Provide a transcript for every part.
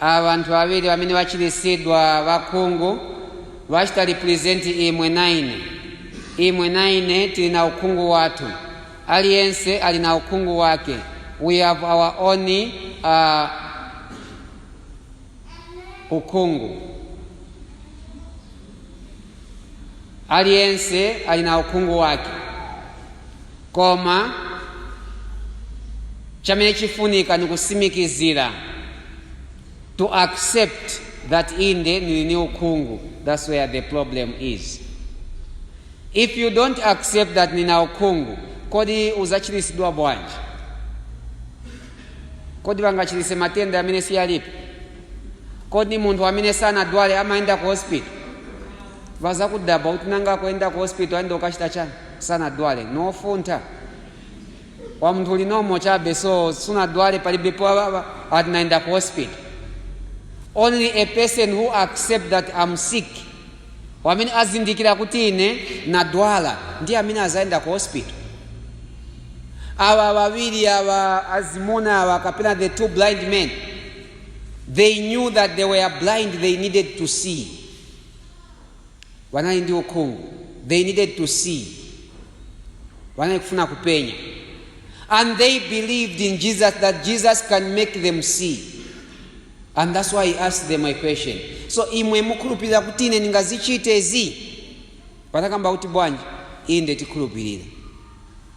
abantu babiri bamene bachilisidwa bakhungu bachita represent imwe naine imwe naine tili na ukhungu wathu aliyense ali na ukhungu wake we have our own uh, ukhungu aliyense ali na ukhungu wake koma chamene chifunika ni kusimikizira to accept that inde nili ni ukhungu that's where the problem is if you don't accept that nina ukhungu kodi uzachiritsidwa bwanji kodi bangachiritse matenda amene siyalipi kodi munthu amene sanadwale amayenda ku hospital wazakudabwa kuti nanga akuyenda ku hospital ayenda kukachita chani sanadwale nifuna wa munthu ulinomo chabe so sunadwale palibepo ababa ati naenda ku hospital only a person who accept that am sick wamene azindikira kuti ine nadwala ndiye amene azaenda ku hospital awa wawiri awa azimuna awa kapena the two blind men they knew that they were blind they needed to see wanali ndi ukhungu they needed to see wanali kufuna kupenya and they believed in jesus that jesus can make them see and that's why he asked them a question so imwe mukhulupirira kuti ine ndingazichite izi wanakamba kuti bwanji inde tikhulupirira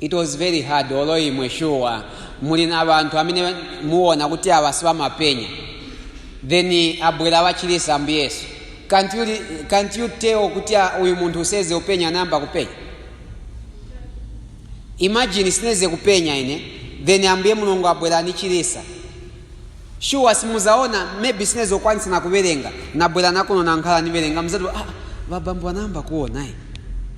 It was very hard olo imwe sure muli na bantu amene muona kuti awa sibamapenya then abwera wachilisa ambuye yesu can't you, can't you tell kuti ah, uyu munthu seze kupenya wayamba kupenya imagine sineze kupenya ine then ambuye mulungu abwera anichilisa shuwa simuzaona maybe sineze kukwanisa na kuwerenga nabwera nakuno nankhala niwerenga muzati ah, babambo anayamba kuona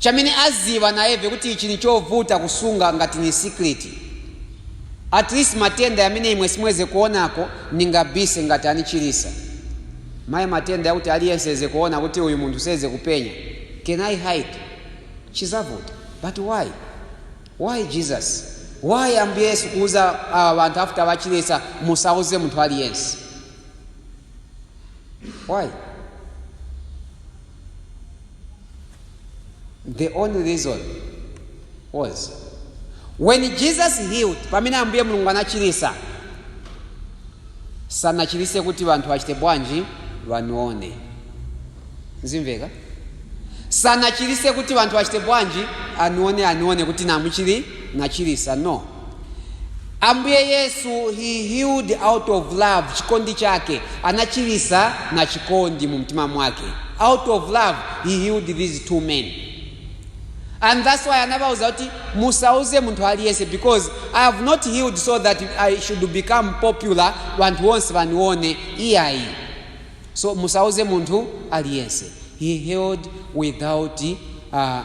chamene aziba nayeve kuti ichi nichovuta kusunga ngati ni secret. At least matenda yamene imwe simweze kuonako ningabise ngati anichilisa. Mai matenda yakuti aliyense eze kuona kuti uyu munthu seze kupenya. Can I hide? Chizavuta. But why? Why Jesus? Why Ambuye Yesu kuuza awa banthu after bachilisa musauze munthu aliyense? why the only reason was when jesus healed pamene ambuye mulungu anachirisa sanachirise kuti vanthu vachite bwanji vanione Zimveka? Sanachilise kuti banthu achite bwanji anione anione kuti namuchili nachilisa no Ambuye Yesu he healed out of love chikondi chake anachilisa na chikondi mumtima mwake out of love he healed these two men and that's why anabauza kuti musauze munthu aliyese because I have not healed so that I should become popular banthu wonse banione iyayi So musauze munthu aliyense. He healed without uh,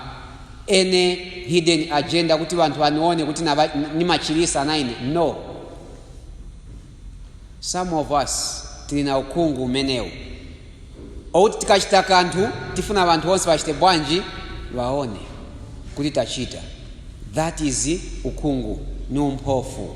any hidden agenda kuti banthu anione kuti naba- nimachilisa na ine no some of us tili na ukhungu umenewu okuti tikachita kanthu tifuna banthu onse bachite bwanji baone kuti tachita that is ukhungu ni umpofu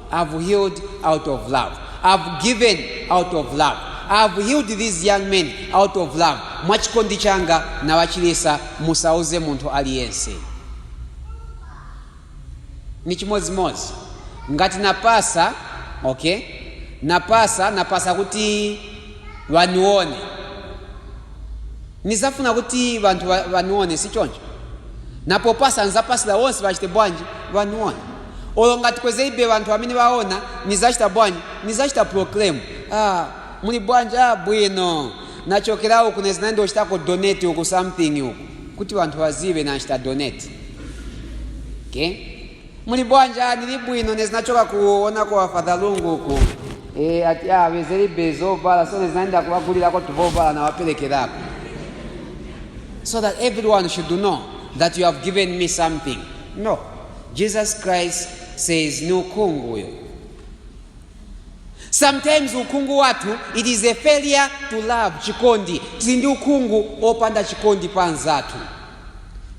I have healed out of love. I have given out of love. I have healed these young men out of love. Mwachikondi changa nawachilisa musauze munthu aliyense. Ni chimodzimodzi ngati napasa, okay? Napasa, napasa kuti wanione. Nizafuna kuti vanthu va- vanione si choncho. Napo pasa nzapasira wonse vachite bwanji vanione. olo ngati kwezelibe banthu amene baona nizachita bwanji nizachita proclaim ah, muli bwanji ah, bwino nachokera uku nezinaenda kuchitako donate uku something uku kuti banthu bazibe nachita donate okay? muli bwanji ah, nili bwino nezinachoka kuonako a Father Lungu uku e, ati ah, wezelibe zovala so nezinaenda kuwagulirako tuvovala nawaperekerako so that everyone should know that you have given me something. No. Jesus Christ says ni ukhungu uyo. Sometimes ukhungu wathu it is a failure to love chikondi. Tili ndi ukhungu opanda chikondi pa anzathu.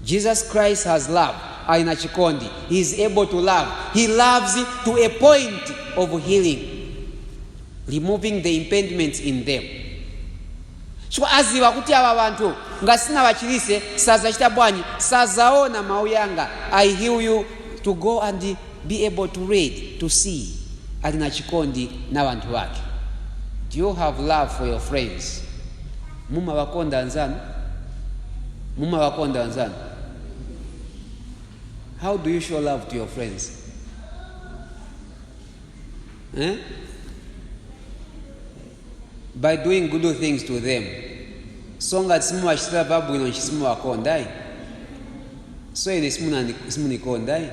Jesus Christ has love. Ali na chikondi. He is able to love. He loves to a point of healing. removing the impediments in them chifukwa aziwa kuti awa banthu ngati sinawachilise sazachita bwanji sazaona mau yanga i heal you to go and be able to read to see ali na chikondi na banthu bake do you have love for your friends mumabakonda anzanu mumabakonda anzanu how do you show love to your friends eh? by doing good things to them so ngati simuwachitira zabwino ninshi simuwakondayi so ine simunandi- simunikondayi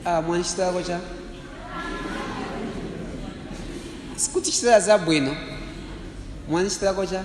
ah, mwandichitirako cha sikutichitira zabwino mwandichitirako cha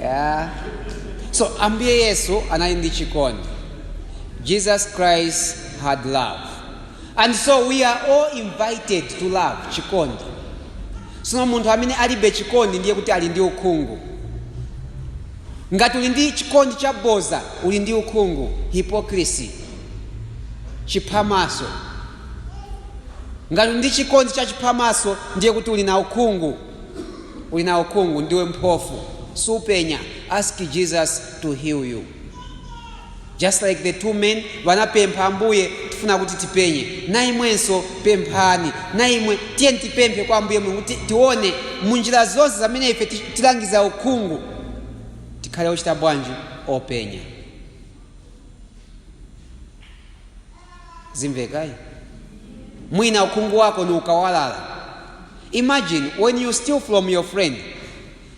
yeah. so ambuye yesu anali ndi chikondi jesus christ had love and so we are all invited to love chikondi sono munthu amene alibe chikondi ndiye kuti ali ndi ukhungu ngati uli ndi chikondi cha boza uli ndi ukhungu hypocrisy chiphamaso ngati uli ndi chikondi cha chiphamaso ndiye kuti uli na ukhungu uli na ukhungu ndiwe mphofu supenya ask jesus to heal you just like the two men wanapempha ambuye tifuna kuti tipenye na imwenso pemphani na imwe tiyeni tipemphe kwa ambuye mulungu kuti tione munjira zonse zamene ife ti- tilangiza ukhungu tikhale ochita bwanji openya zimveka eh? mwina ukhungu wako ni ukawalala imagine when you steal from your friend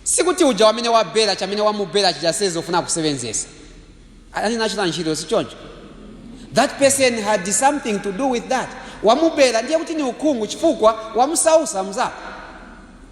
sikuti uja wamene wabela chamene wamubela chijasezi ufuna kusebenzesa anali nachita ntchito sichoncho that person had something to do with that wamubela ndiye kuti ni ukhungu chifukwa wamusausa mzako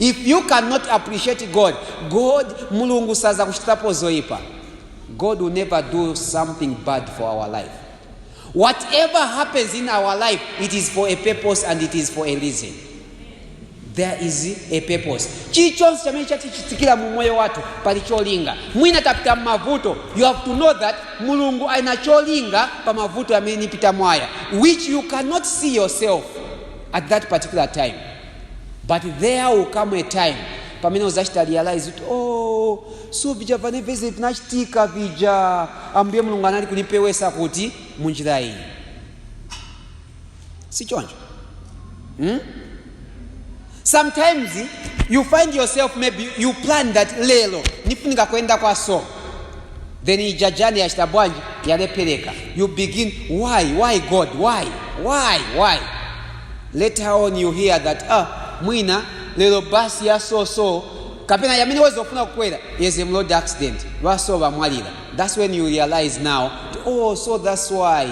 If you can not appreciate God, God Mulungu sazakuchitapo zoipa. God will never do something bad for our life. Whatever happens in our life, it is for a purpose and it is for a reason. There is a purpose. Chichonse chamene chatichitikira mu moyo wathu pali cholinga. Mwina tapita m'mavuto, you have to know that Mulungu ali na cholinga pa mavuto amene nipita mwaya, which you cannot see yourself at that particular time. but there will come a time pamene uzachita realize kuti oh so vija vene veze vinachitika vija ambuye mulungu anali kunipewesa kuti munjira iyi si choncho hmm? sometimes you find yourself maybe you plan that lero nifunika kwenda kwa so then ija jane yachita bwanji yalephereka you begin why why god why why why later on you hear that ah mwina lero bus ya so so kapena yamene weza kufuna kukwera is in road accident ba so bamwalira that's when you realize now oh so that's why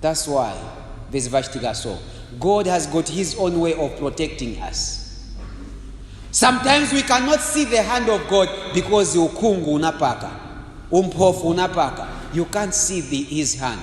that's why this vachitika so god has got his own way of protecting us sometimes we cannot see the hand of god because ukhungu unapaka umphofu unapaka you can't see the, his hand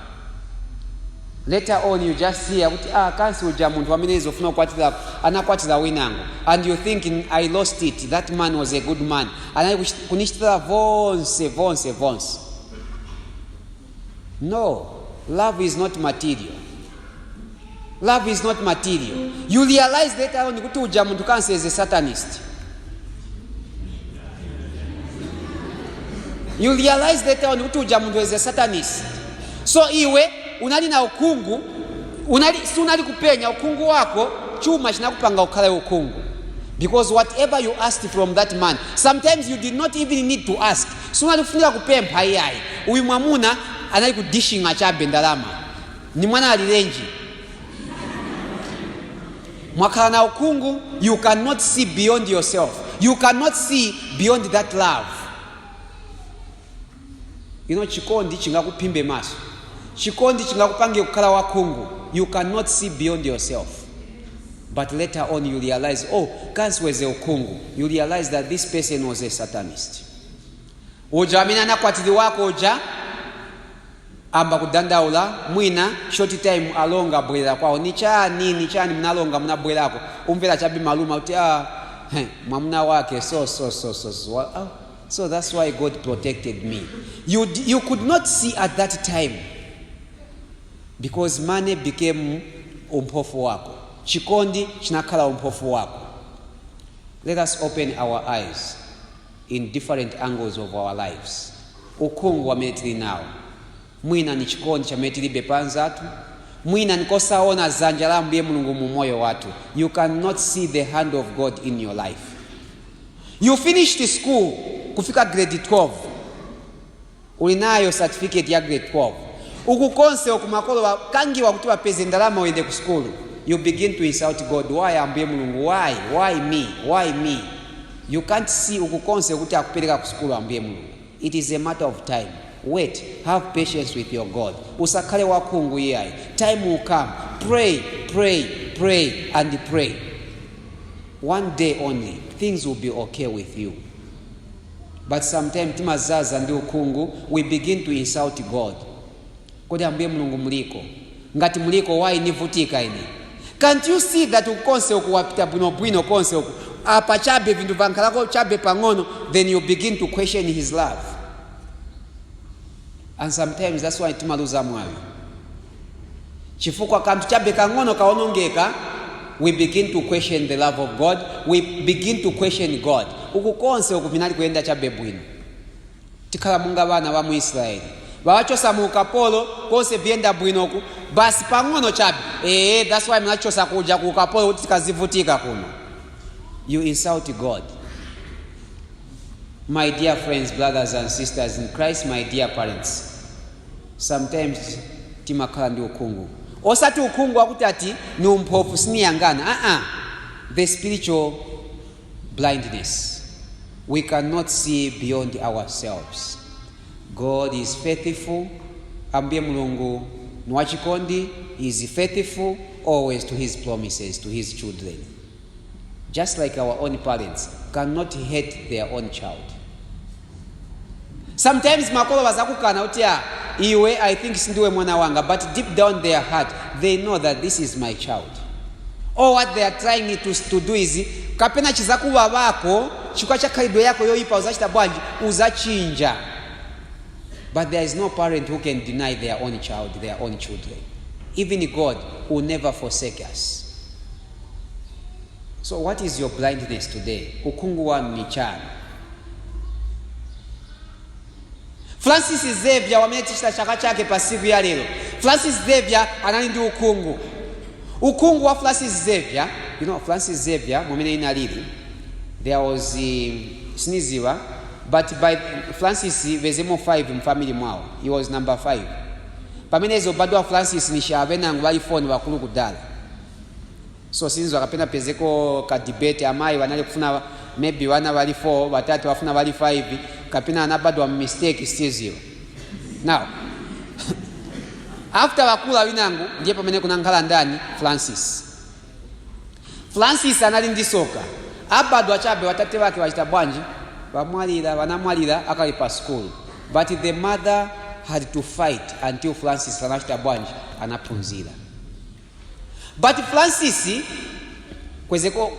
later on you just hear kuti ah kansi uja munthu amene izofuna kukwatira anakwatira winango and you think i lost it that man was a good man anali kuchit- kunichitira vonse vonse vonse no love is not material Love is not material. You realize later on kuti uja munthu kansi is a satanist. You realize later on kuti uja munthu is a satanist. So iwe unali na ukhungu, unali si unali kupenya ukhungu wako chuma chinakupanga ukhale ukhungu. Because whatever you asked from that man, sometimes you did not even need to ask. Si unali kufunika kupempha iyayi. Uyu mwamuna anali kudishinga chabe ndalama. Ni mwana alilenji? Mwakhala na ukhungu, you cannot see beyond yourself. You cannot see beyond that love. You know, chikondi chingakuphimbe maso. Chikondi chingakupange kukhala wakhungu. You cannot see beyond yourself. But later on you realize, oh, kansi weze ukhungu. You realize that this person was a satanist. Uja amene anakwatiliwako uja amba kudandaula mwina short time alonga abwelela kwao nichani nichani munalonga munabwelako umvela chabe maluma kuti ah, heh, mwamuna wake so so so so so, wa- ah, so that's why god protected me you, d- you could not see at that time because money became umphofu wako chikondi chinakhala umphofu wako let us open our eyes in different angles of our lives, ukhungu wamene tili nawo, mwina ni chikondi chamene tilibe pa anzathu, mwina ni kusaona zanja la Ambuye Mulungu mu umoyo wathu, you can not see the hand of God in your life. You finished school kufika grade 12. Uli nayo certificate ya grade 12 uku konse uku makolo bakangiwa kuti bapeze ndalama uyende ku sukulu you begin to insult God why Ambuye Mulungu why why me why me you can't see uku konse kuti akupeleka ku sukulu Ambuye Mulungu it is a matter of time wait have patience with your God usakhale wakhungu iyayi time will come pray pray pray and pray one day only things will be okay with you but sometime timazaza ndi ukhungu we begin to insult God kodi Ambuye Mulungu muliko? Ngati muliko why nivutika ine? Can't you see that uku konse uku wapita bwinobwino konse uku apa chabe vinthu vankhalako chabe pang'ono then you begin to question his love. and sometimes that's why timaluza mwawi chifukwa kanthu chabe kang'ono kaonongeka we begin to question the love of god we begin to question god uku konse uku vinali kuyenda chabe bwino tikhala munga vana va mu israeli vawachosa mu ukapolo konse vyenda bwino uku basi pang'ono chabe ee that's why mnachosa kuja ku ukapolo kuti tikazivutika kuno you insult god My dear friends, brothers and sisters in Christ, my dear parents. Sometimes timakhala ndi ukhungu. Osati ukhungu wakuti ati ni umphofu siniyangana. Ah ah. The spiritual blindness. We cannot see beyond ourselves. God is faithful. Ambuye Mulungu ni wachikondi. He is faithful always to his promises to his children. just like our own parents cannot hate their own child sometimes makolo bazakukana kuti ah, iwe i think sindiwe mwana wanga but deep down their heart they know that this is my child or what they are trying to, to do is kapena chizakuba bako chikwa cha khalidwe yako yoyipa uzachita bwanji uzachinja but there is no parent who can deny their own child their own children even god will never forsake us So what is your blindness today? Ukhungu wanu ni chani? Francis Xavier wamene tichita chaka chake pa siku ya lero. Francis Xavier anali ndi ukhungu. Ukhungu wa Francis Xavier, you know Francis Xavier mwamene inalili. There was um, siniziwa but ba Francis vezemo 5 mfamily mwawo. He was number 5. Pamene ezobadwa Francis nishi benangu bali 4 bakulu kudala. so sinziwa kapena pezeko ka debate amayi wanali kufuna maybe wana wali 4 watate wafuna wali 5 kapena anabadwa mistake siziwa now after wakula winangu ndiye pamene kunankhala ndani francis francis anali ndi soka abadwa chabe watate wake wachita bwanji wanamwalira akali pa school but the mother had to fight until francis anachita bwanji anaphunzira But Francis kwezeko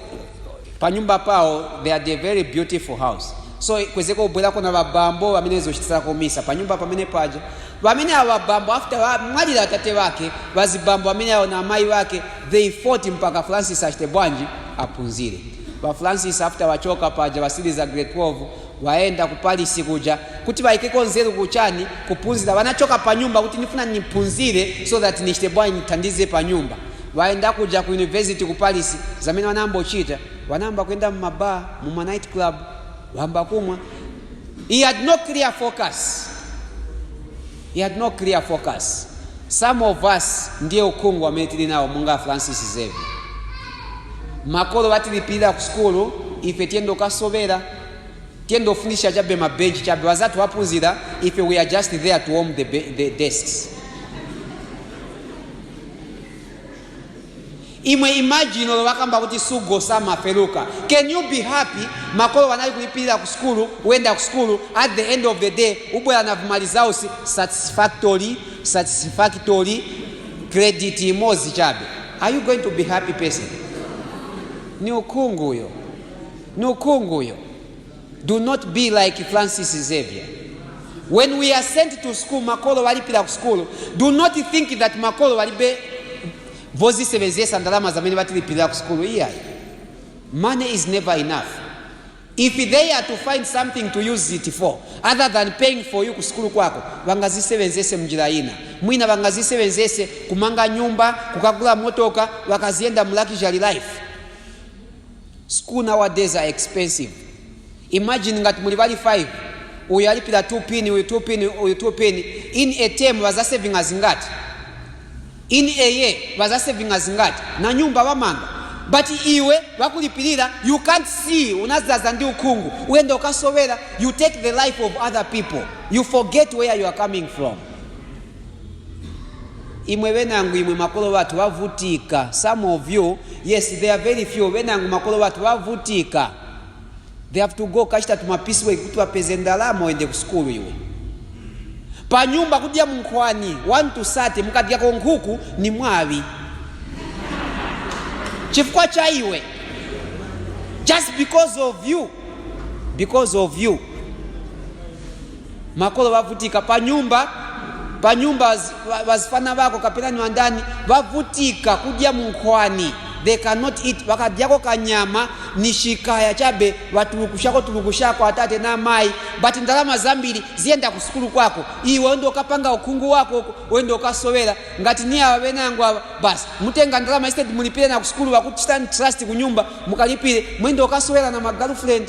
panyumba pawo they had a very beautiful house so kwezeko kubwerako na babambo bamene zochitira komisa panyumba pamene paja bamene awo babambo after wamwalira atate wake bazibambo bamene awo na amayi wake they fought mpaka francis achite bwanji aphunzire ba francis after wachoka paja basiliza grade 12 Wayenda ku Paris kuja kuti baikeko nzelu ku chani kupunzila banachoka panyumba kuti nifuna nipunzile so that nichite bwanji nithandize panyumba bayenda kuja ku university ku Paris zamene banayamba kuchita banayamba kuyenda mu ma bar mu ma night club bayamba kumwa he had no clear focus He had no clear focus. Some of us ndiye ukhungu wamene tili nawo monga a Francis Xavier. Makolo batilipilila ku sukulu, ife tiyenda ukasobela, tiyenda ufunisha chabe ma bench chabe, bazathu bapunzila, ife we are just there to warm the, the desks. imwe imagine olo wakamba kuti sugo samafeluka can you be happy makolo wanali kulipirira ku sukulu wenda ku sukulu at the end of the day ubwera na vima results satisfactory satisfactory credit imodzi chabe are you going to be happy person ni ukhunguyo ni ukhunguyo Do not be like Francis Xavier. When we are sent to school, makolo walipira ku school, do not think that makolo walibe vozisebenzesa ndalama zamene batilipirira ku school iyayi. Money is never enough. If they are to find something to use it for other than paying for you ku school kwako, bangazisebenzese mnjira ina. Mwina bangazisebenzese kumanga nyumba, kukagula motoka, wakaziyenda mu luxury life. School nowadays are expensive, imagine ngati muli bali 5 uyu alipila 2 pin uyu 2 pin uyu 2 pin, in a term bazasevinga zingati? In a year bazasevinga zingati? Na nyumba bamanga but iwe bakulipilira you can't see, unazaza ndi ukhungu uyenda ukasowera, you take the life of other people, you forget where you are coming from. imwe benangu imwe makolo bathu bavutika some of you yes there are very few benangu makolo bathu bavutika they have to go kachita tumapisiweki kuti bapeze ndalama uyende ku sukulu iwe pa nyumba kudya munkhwani 1 to 30 mukadyako nkhuku ni mwawi chifukwa cha iwe just because of you because of you makolo bavutika panyumba panyumba baz- ba- bazifana bako kapena ni bandani bavutika kudya munkhwani they cannot eat bakadyako kanyama ni chikaya chabe batulukushako tulukushako atate na amayi but ndalama zambiri ziyenda ku sukulu kwako iwe wenda ukapanga ukhungu wako uko, wenda ukasowera ngati ni awa benangu awa basi mutenga ndalama instead mulipire na ku sukulu bakuchitani trust ku nyumba mukalipire mwenda ukasowera na ma girlfriend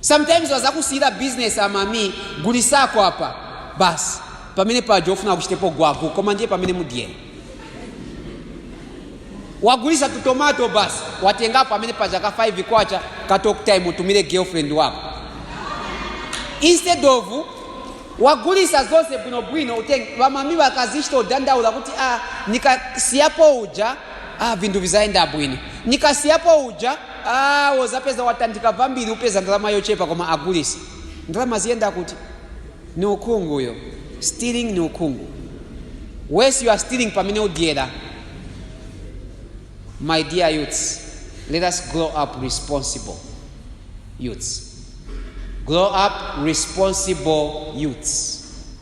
Sometimes wazakusiyila business a mami gulisako apa bas pamene paja ofuna akuchitepo gwagu koma ndiye pamene mudyela wagulisa tu tomato bas watengapo pamene paja ka 5 kwacha ka talk time utumile girlfriend wako instead of wagulisa zonse bwinobwino utenge vamami vakazichita udandaula kuti a nikasiyapo uja a vinthu vizayenda bwino nikasiyapo uja Aaa wozapeza watandika vambili upeza ndalama yochepa koma agulisa. Ndalama ziyenda kuti? Ni ukhungu uyo. Stealing ni ukhungu. Worse you are stealing pamene udyera. My dear youths, let us grow up responsible youths. Grow up responsible youths.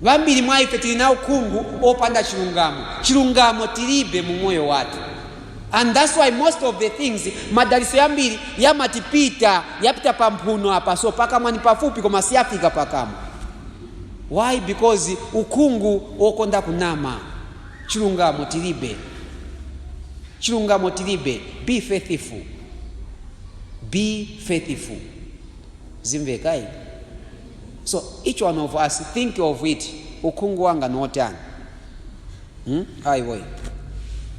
Bambili mwa ife tili na ukhungu opanda chilungamo. Chilungamo tilibe mu moyo wathu and that's why most of the things madaliso yambili yamatipita, yapita pa mphuno apa so pakamwa ni pafupi koma siyafika pakamwa why because ukhungu okonda kunama. Chilungamo tilibe, chilungamo tilibe. Be faithful, be faithful. Zimveka ayi? so each one of us think of it ukhungu wanga ni otani hmm? ayi boy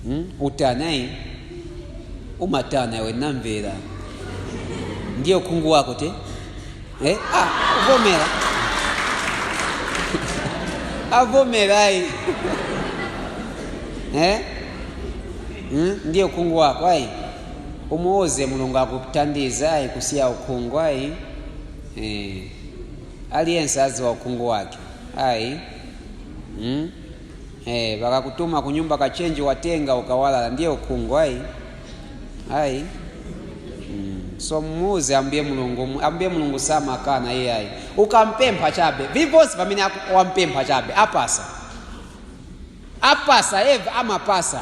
hmm? utani ayi umatana iwe namvera ndiye ukhungu wako te eh? ah, uvomera avomera ayi eh? hmm? ndiye ukhungu wako ayi umuuze mulungu akuthandiza ayi kusiya ukhungu ayi Eh, aliyense aziwa ukhungu wake ayi mm? eh, bakakutuma kunyumba kachenji watenga ukawalala ndiye ukhungu ayi ayi mm. so muuze ambuye mulungu mu- ambuye mulungu samakana iyayi ukampempha chabe vivonse vamene aku- wampempha chabe apasa apasa eve amapasa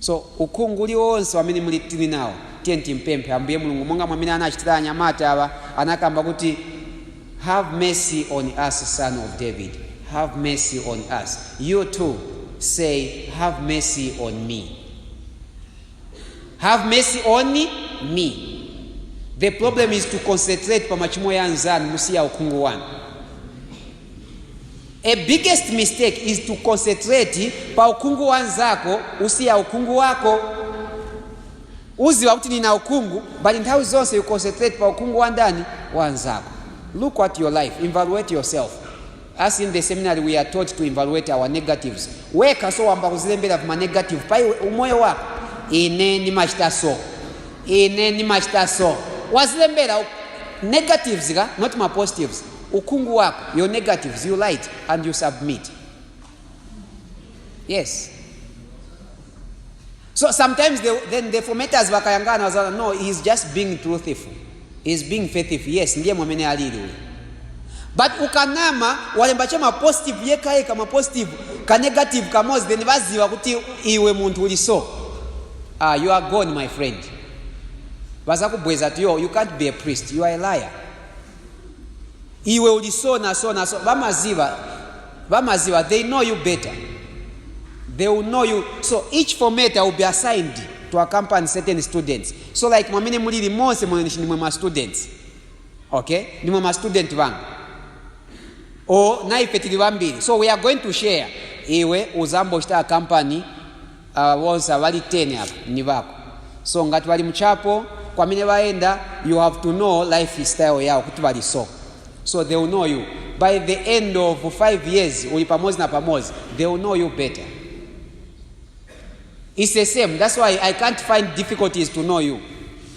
So ukhungu uliwonse wamene muli tili nawo, tiyeni timpemphe Ambuye Mulungu monga mwamene anachitila anyamata awa, anakamba kuti, Have mercy on us, Son of David, have mercy on us. You too say, Have mercy on me. Have mercy on me. The problem is to concentrate pa machimo ya anzanu musiya ukhungu wanu. A biggest mistake is to concentrate pa ukhungu wa nzako usiya ukhungu wako. Uziba kuti nina ukhungu but nthawi zonse you concentrate pa ukhungu wa ndani wa nzako. Look at your life, evaluate yourself. As in the seminary we are taught to evaluate our negatives. Wekha so wamba kuzilembera ma negative pa iwe umoyo wako. Ine nimachita so. Ine nimachita so. Wazilembera u- negatives ka not ma positives. ukhungu wako your negatives you light and you submit yes so sometimes they, then the fometers vakayangana wazana no he is just being truthful he is being faithful yes ndiye mwamene alili uyu but ukanama walemba cha mapositive yekha yekha mapositive kanegative kamodzi then vaziva kuti iwe munthu uli so ah, you are gone my friend vazakubweza kuti yo you can't be a priest you are a liar iwe uli so na so na so bamaziba bamaziba they know you better they will know you so each formator will be assigned to accompany certain students so like mwamene mulili monse mwenshi nimwe ma students okay nimwe ma student banga o naife tili bambiri so we are going to share iwe uzambochita accompany Aba bonse abali 10 aba nibako so ngat bali muchapo kwamene baenda you have to know life style yao kuti bali so so they will know you by the end of 5 years uli pamozi na pamozi they will know you better it's the same that's why i can't find difficulties to know you